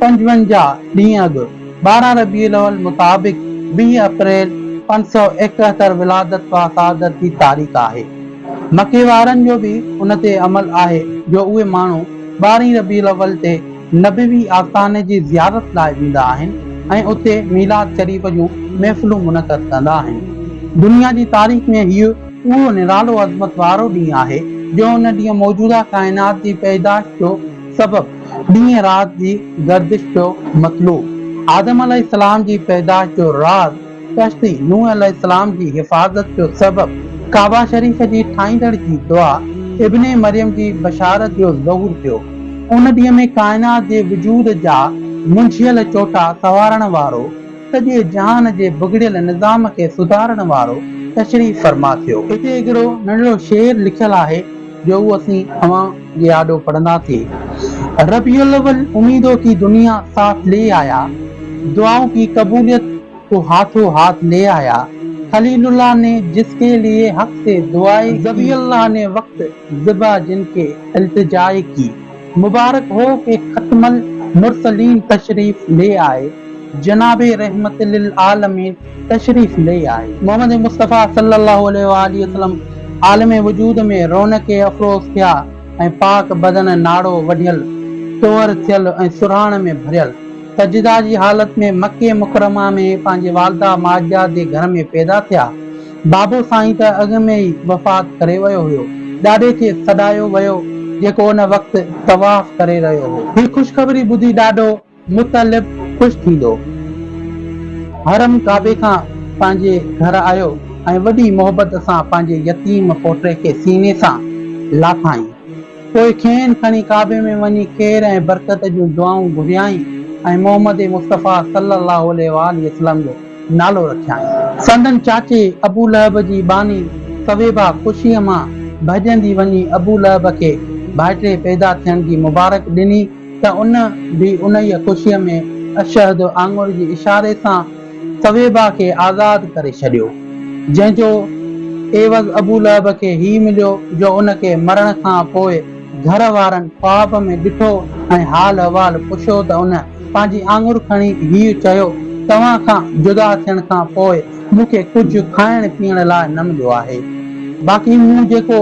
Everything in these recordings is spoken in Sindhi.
پنجونجاهه ڏينهن اڳ، ٻارهن ربيع الاول مطابق ويهه اپريل پنج سؤ ايڪهتر ولادت و سعادت جي تاريخ آهي. مڪي وارن جو به ان تي عمل آهي جو اهي ماڻهو ٻارهين ربيع الاول تي نبوي آستاني جي زيارت لاء ويندا آهن ۽ اتي ميلاد شريف جون محفلون منعقد ڪندا آهن. دنيا جي تاريخ ۾ هيء اهو نرالو عظمت وارو ڏينهن آهي جو ان ڏينهن موجوده ڪائنات جي پيدائش جو سبب ڏينهن رات جي گردش جو مطلوب آدم عليه السلام جي پيدائش جو راز ڪشتي نوح عليه السلام جي حفاظت جو سبب ڪعبه شريف جي ٺاهيندڙ جي دعا ابن مريم جي بشارت جو ظهور ٿيو ان ڏينهن ۾ ڪائنات جي وجود جا منجهيل چوٽا سنوارڻ وارو سڄي جهان جي بگڙيل نظام کي سڌارڻ وارو تشريف فرما ٿيو. هتي هڪڙو ننڍڙو شعر لکيل آهي جو اهو اسين اوهان. جي آڏو پڙهندا ٿي ربيع الاول اميدو ڪي دنيا ساٿ لي آيا دعائون ڪي قبوليت ڪو هاٿو هاٿ لي آيا خليل الله ني جس ڪي ليي حق سي دعائي ڪي ذبيح الله ني وقت ذبح جن ڪي التجائي ڪي مبارڪ هو ڪي ختم المرسلين تشريف لي آئي جناب رحمت للعالمين تشريف لي آئي. محمد مصطفيٰ صلّي اللّٰه عليه واٰله وسلّم عالم وجود ۾ رونق افروز ٿيا ۽ پاڪ بدن ناڙو وڍيل، ٽوهر ٿيل ۽ سرهاڻ ۾ ڀريل، سجده جي حالت ۾ مڪي مڪرمه ۾ پنهنجي والده ماجده جي گهر ۾ پيدا ٿيا. بابو سائين ته اڳ ۾ ئي وفات ڪري ويو هيو. ڏاڏي کي سڏايو ويو، جيڪو ان وقت طواف ڪري رهيو هو. هي خوشخبري ٻڌي ڏاڏو مطلب خوش ٿيندو حرم ڪعبي کان پنهنجي گهر آيو ۽ وڏي محبت سان پنهنجي يتيم پوٽي کي سيني سان لاٿائين پوء کين کڻي ڪعبي ۾ وڃي خير ۽ برڪت جون دعائون گهريائين ۽ محمد مصطفيٰ صلّي اللّٰه عليه واٰله وسلّم جو نالو رکيائين. سندن چاچي ابو لهب جي ٻانهي ثويبه خوشيء مان ڀڄندي وڃي ابو لهب کي ڀائٽي پيدا ٿيڻ جي مبارڪ ڏني، ته ان به انهيء خوشيء ۾ اشهد آڱر جي اشاري سان ثويبه کي آزاد ڪري ڇڏيو، جنهن جو عيوض ابو لهب کي هي مليو جو ان کي مرڻ کان پوء گهر وارن خواب ۾ ڏٺو ۽ حال احوال پڇيو ته ان پنهنجي آڱر کڻي هي چيو، توهان کان جدا ٿيڻ کان پوء مون کي ڪجهه کائڻ پيئڻ لاء نه مليو آهي. باقي مون جيڪو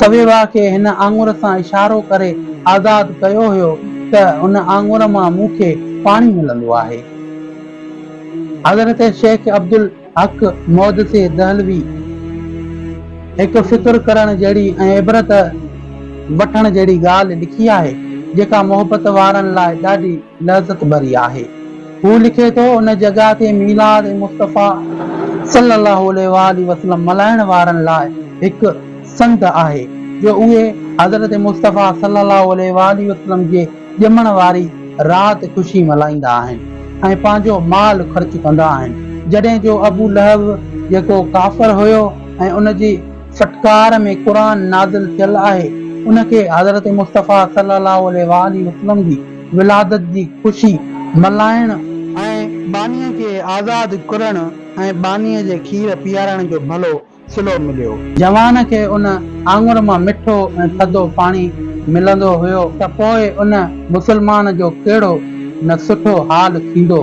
سويوا کي هن آڱر سان اشارو ڪري آزاد ڪيو هيو ته ان آڱر مان مون کي پاڻي ملندو آهي. حضرت شيخ عبدالحق مودسي دهلوي هڪ فڪر ڪرڻ جهڙي ۽ عبرت وٺڻ جهڙي ڳالهه لکي آهي، جيڪا محبت وارن لاء ڏاڍي لذت ڀري آهي. هو لکي ٿو، ان جڳهه تي ميلاد مصطفيٰ صلّي اللّٰه عليه واٰله وسلّم ملهائڻ وارن لاء هڪ سنڌ آهي، جو اهي حضرت مصطفيٰ صلّي اللّٰه عليه واٰله وسلّم جي ڄمڻ واري رات خوشي ملهائيندا آهن ۽ پنهنجو مال خرچ ڪندا آهن، جڏهن جو ابو لهب جيڪو ڪافر هيو ۽ ان جي ڦٽڪار ۾ قرآن نازل ٿيل آهي، ان کي حضرت مصطفيٰ صلّي اللّٰه عليه واٰله وسلّم جي. ولادت جي خوشي ملهائڻ ۽ ٻانهيء کي آزاد ڪرڻ ۽ ٻانهيء جي کير پيارڻ جو ڀلو صلو مليو. جوان کي ان آڱر مان مٺو ۽ ٿڌو پاڻي ملندو هيو ته پوء ان مسلمان جو ڪهڙو نه سٺو حال ٿيندو.